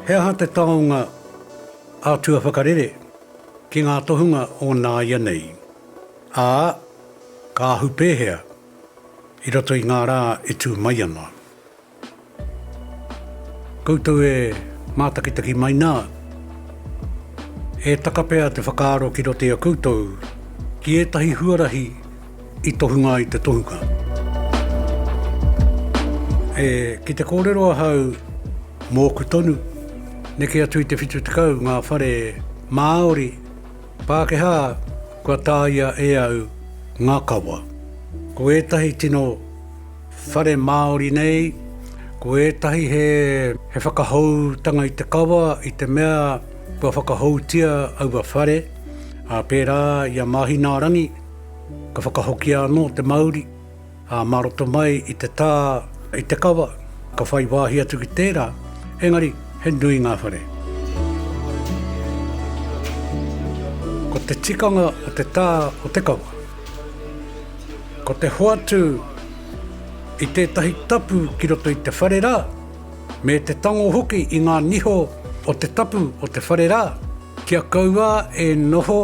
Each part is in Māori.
He aha te taonga ātua whakarere ki ngā tohunga o nāianei, ā, ka ahu pēhea i roto i ngā rā e tū mai ana? Koutou e mātakitaki mai nā, e taka pea te whakaaro ki roto i a koutou ki ētahi huarahi i tohunga ai te tohunga. E, ki te kōrero ahau mōku tonu, neke atu i te 70 ngā whare Māori, Pākehā kua tāia e au ngā kawa. Ko ētahi tino. Whare Māori nei, ko ētahi he whakahoutanga i te kawa i te mea kua whakahoutia aua whare, ā, pērā i a Māhinaarangi, ka whakahokia anō te mauri, ā, mā roto mai i te tā i te kawa, ka whai wāhi atu ki tērā, engari he nui ngā whare. Ko te tikanga o te tā o te kawa. Ko te hoatu i tētahi tapu ki roto i te whare rā, me te tango hoki i ngā niho o te tapu o te whare rā, kia kaua e noho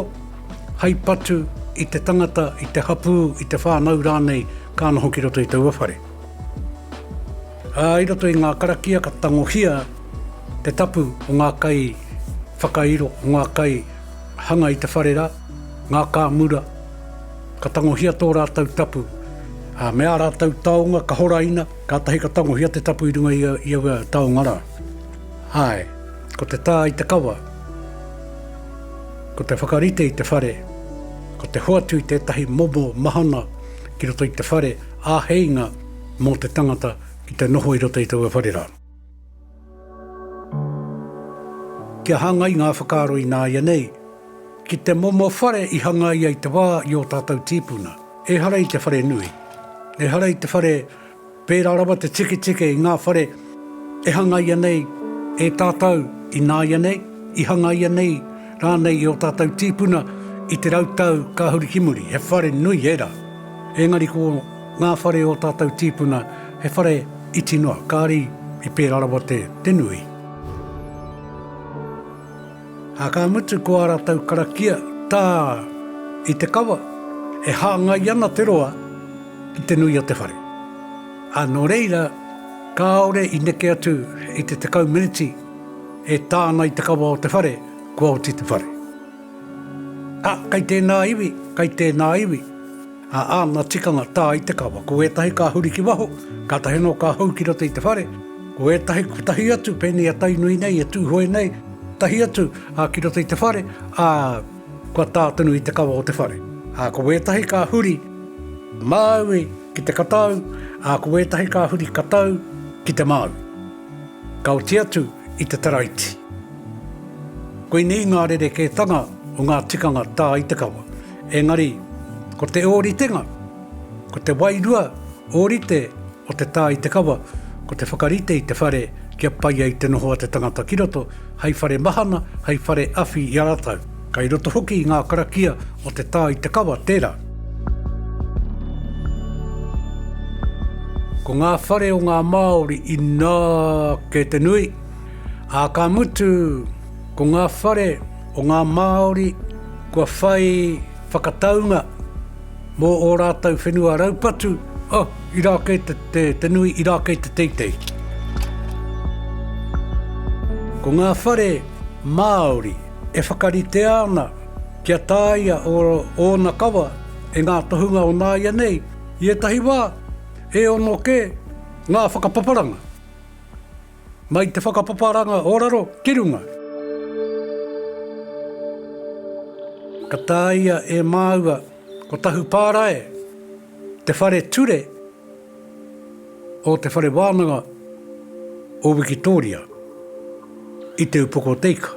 hai patu i te tangata, i te hapū, i te whānau rānei ka noho ki roto i taua whare. Ā, i roto i ngā karakia ka tangohia te tapu o ngā kai whakairo, o ngā kai hanga i te whare rā, ngā kāmura, Ka tangohia tō rātou tapu, ā, me ā rātou taonga ka horaina, kātahi ka tangohia te tapu i runga i aua taonga rā. Āe, ko te tā i te kawa, ko te whakarite i te whare, ko te hoatu i tētahi momo mahana ki roto i te whare, āheinga mō te tangata ki te noho i roto i taua whare rā. Kia hāngai ngā whakaaro ināianei ki te momo whare i hangaia i te wā i ō tātou tīpuna. Ehara i te whare nui, ehara i te whare pērā rawa te tiketike i ngā whare e hangaia nei e tātou ināianei, i hangaia nei rānei i ō tātou tīpuna i te rau tau kāhuri ki muri. He whare nui ērā, engari ko. Ngā whare o tātou tīpuna, he whare iti noa, kāri i pērā rawa te, te nui. Ā, ka mutu ko ā rātou karakia tā i te kawa, e hāngai ana te roa ki te nui o te whare. Ā, nō reira, kāore i neke atu i te tekau meneti e tā ana i te kawa o te whare, kua oti te whare. Ā, kei tēnā iwi, kei tēnā iwi. Ā, āna tikanga tā i te kawa, ko ētahi ka huri ki waho, kātahi anō ka hou ki roto i te whare, ko ētahi kotahi atu pēnei a Tainui nei e tūhoe nei, tahi atu, ā, ki roto i te whare, ā, kua tā tonu i te kawa o te whare. Ā, ko ētahi ka huri māui ki te katau, ā, ko ētahi ka huri katau ki te māui. Ka oti atu i te taraiti. Koinei ngā rerekētanga o ngā tikanga tā i te kawa. Engari, ko te ōritenga, ko te wairua ōrite o te tā i te kawa, ko te whakarite i te whare kia pai ai te noho a te tangata ki roto, hei whare mahana, hei whare awhi i a rātou. Kei roto hoki i ngā karakia o te tā i te kawa tērā. Ko ngā whare o ngā Māori inā kē te nui, ā, ka mutu, ko ngā whare o ngā Māori kua whai whakataunga mō ō rātou whenua raupatu, oh, irā kē te, te nui, irā kē te teitei. Ko ngā whare Māori e whakaritea ana kia tāia ō, ōna kawa e ngā tohunga o nāianei, i ētahi wā, e ono kē ngā whakapaparanga. Mai te whakapaparanga o raro ki runga. Ka tāia e māua ko Tahu Pārae te whare ture o Te Whare Wānanga o Wikitōria i Te Upoko o Te Ika.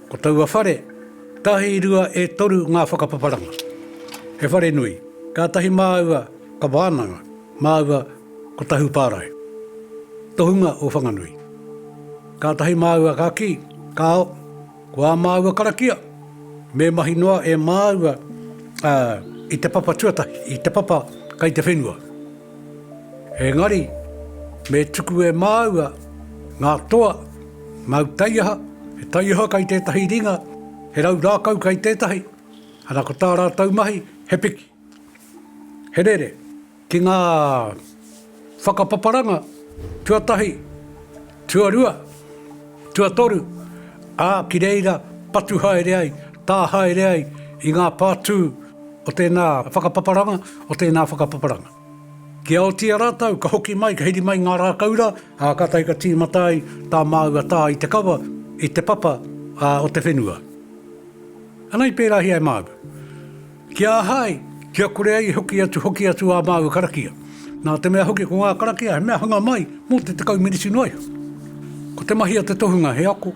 Ko taua whare, tahi, rua, e toru ngā whakapaparanga. He whare nui. Kātahi māua ka wānanga. Māua ko Tahu Pārae. Tohunga o Whanganui. Kātahi māua ka kī, Kāo, ko ā māua karakia, me mahi noa e māua i te papa tuatahi, i te papa kei te whenua. Engari, me tuku e māua ngā toa, ngau taiaha, he taiaha kei tētahi ringa, he rau rākau kei tētahi, ana ko tā rātou mahi, he piki. He rere ki ngā whakapaparanga tuatahi, tuarua, tuatoru, ā, ki reira patu haere ai, tā haere ai i ngā pātū o tēnā whakapaparanga, o tēnā whakapaparanga. Kia otia rātou, ka hoki mai, ka hiri mai ngā rākau rā, ā, kātahi ka tīmata ai tā māua tā i te kawa, i te papa, ā, o te whenua. Anei pērāhia e māua. Ki a hai, ki a kore ai hoki atu hoki atu ā māua karakia. Nā te mea hoki ko ngā karakia he mea hanga mai mō te tekau meneti noa iho. Ko te mahi a te tohunga he ako,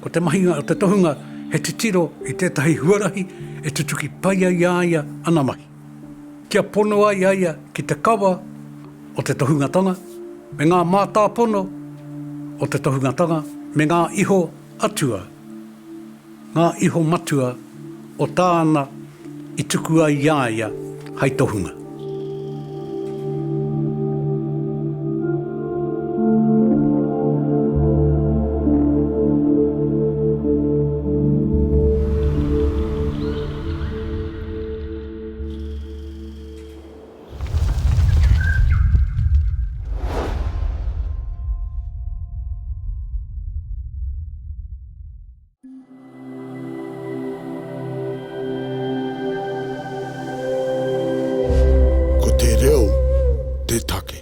ko te mahi a te tohunga he titiro i tētahi huarahi e tutuki pai ai a ia ana mahi. Kia pono ai a ia ki te kawa o te tohungatanga me ngā mātāpono o te tohungatanga me ngā iho atua. Ngā iho matua o tāna i tuku ai i a ia hai tohunga. Ko te reo te take.